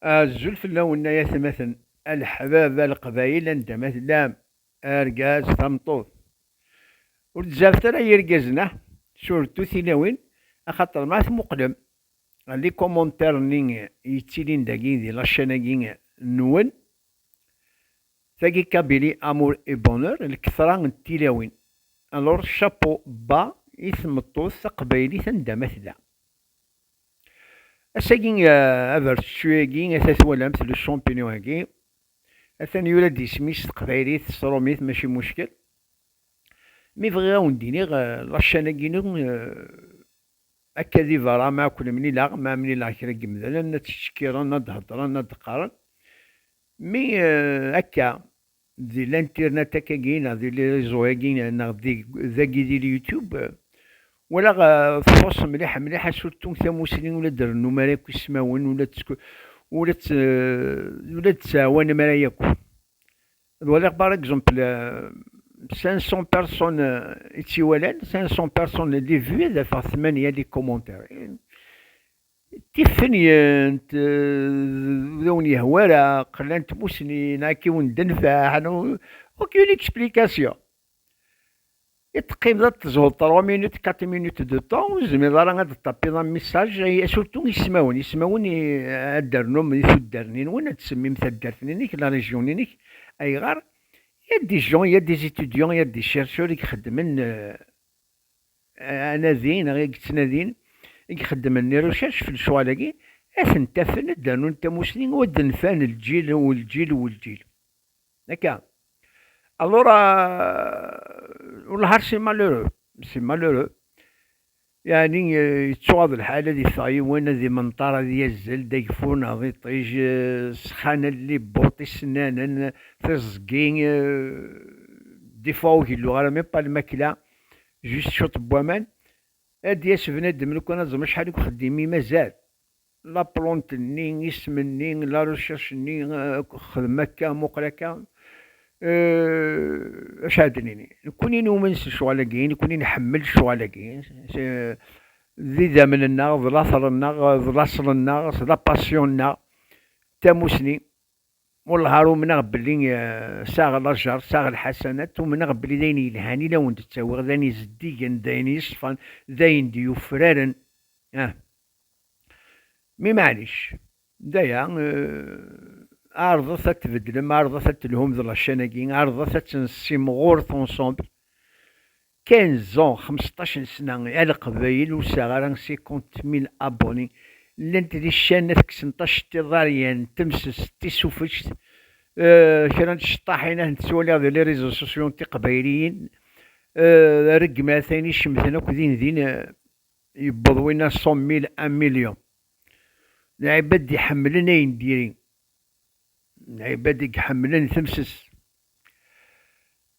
Azul fell-awen ay atmaten, a leḥbab, a leqbayel anda ma tellam, argaz, tameṭṭut. Ur d-zzabet ara yirgazen ah, surtout tilawin, axaṭer ma tmuqlem les commentaires nni yettilin dagi di la chaîne agi nwen, tagi Kabylie amour et bonheur, lketṛa n tilawin. Alors chapeau bas i tmeṭṭut taqbaylit anda ma tella. Ass-agi, abertettuy-agi, ata twalamt le champignon-agi, atan yura-d isem-is s teqbaylit, s trumit, mačči muckel. Mi bɣiɣ ad wen-d-iniɣ, la chaîne-agi-inu, akka di beṛṛa, mi ara ken-mlileɣ, mi ara mlileɣ kra n yemdanen, ad ttcekkiren, ad d-heddren, ad d-qqaren. Mi akka, Di linternet akkagi neɣ di lirezo-agi neɣ dagi di lyutub, walaɣ txuṣ mliḥ mliḥ asurtu tamusni ula d-rennum ara yakk ismawen ula d-tettɛawanem ara yakk. Ad waliɣ par exemple 500 personnes i tt-iwalan, 500 personnes les vues ad afeɣ tmanya les commentaires. Tiffenyent d ur wen-yehwi ara, qlant tmusni neɣ i wen-d-tenfeɛ neɣ aucune explication. I teqqimeḍ ad teẓẓuḍ trois minutes, quatre minutes de temps, ur tezmireḍ ara ad d-ṭapiḍ un message, surtout ismawen, ismawen ad d-ternum di tuddar-nni-nwen, ad tsemmim taddart-nni-inek, la région-nni-inek, ayɣer? Il y a des gens, il y a des étudiants, il y a des chercheurs i ixeddmen anadi neɣ i yettnadin, i ixeddmen irucac f lecɣal-agi, ad tent-afen ad d-rnun tamusni ur d-nfan lǧil u lǧil u lǧil. Akka? Alura, ur lhar si malheureux, si malheureux, yeɛni yettuɣaḍ lḥal ad iffeɣ yiwen ad imenṭar ad yazzel d ageffur neɣ d iṭij, ssxan alli n buṭ, isennanen, tiẓgi, des fois ur gelluɣ ara, même pas lmakla, Juste cwiṭ n waman. Ad d-yas bnadem lukan ad ẓem acḥal deg uxeddim i mazal. La plante nni, isem-nni, la recherche nni, xdem akka, muqel akka. Euh, acu ad d-nini? Nekkuni numen s lecɣal-agi, nekkuni nḥemmel lecɣal-agi. D idammen-nneɣ, d later-nneɣ, d laṣel-nneɣ, d la passion-nneɣ, d tamusni. Wellah umneɣ belli saɣ lajer, saɣ lḥasanat, umneɣ belli d ayen yelhan i la wen-d-ttawiɣ, d ayen izeddigen, d ayen yeṣfan, d ayen d-yufraren, ah. Mi maɛlic, d aya, ɛerḍet ad tbeddlem, ɛerḍet ad telhum d lacan-agi, ɛerḍet ad tt-nessimɣur t-ensemble, 15 ans, xmesṭac n sna, a Leqbayel ur sɛiɣ ara 50 mil abonnés, llant di ccan ad kksent aceṭṭiḍ aryan n temsest d tisufect, euh kra n tceṭṭaḥin ad tent-ttwaliɣ di les réseaux sociaux n tiqbayliyin, euh regmat ayen icemten akk din din, yewweḍ winna 100 mil, un million, lɛibad iḥemmlen ayen diri, lɛibad i iḥemmlen temsest.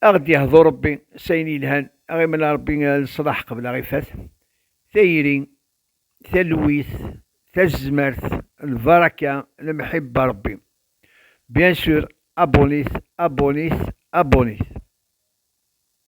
A ɣ-d-yehḍu Ṛebbi s ayen yelhan, a ɣ-imel a Ṛebbi leṣlaḥ qbel a ɣ-ifat, tayri, talwit, tazmert, lbaraka, lemḥibba Ṛebbi. Bien sûr, abonnez, abonnez, abonnez.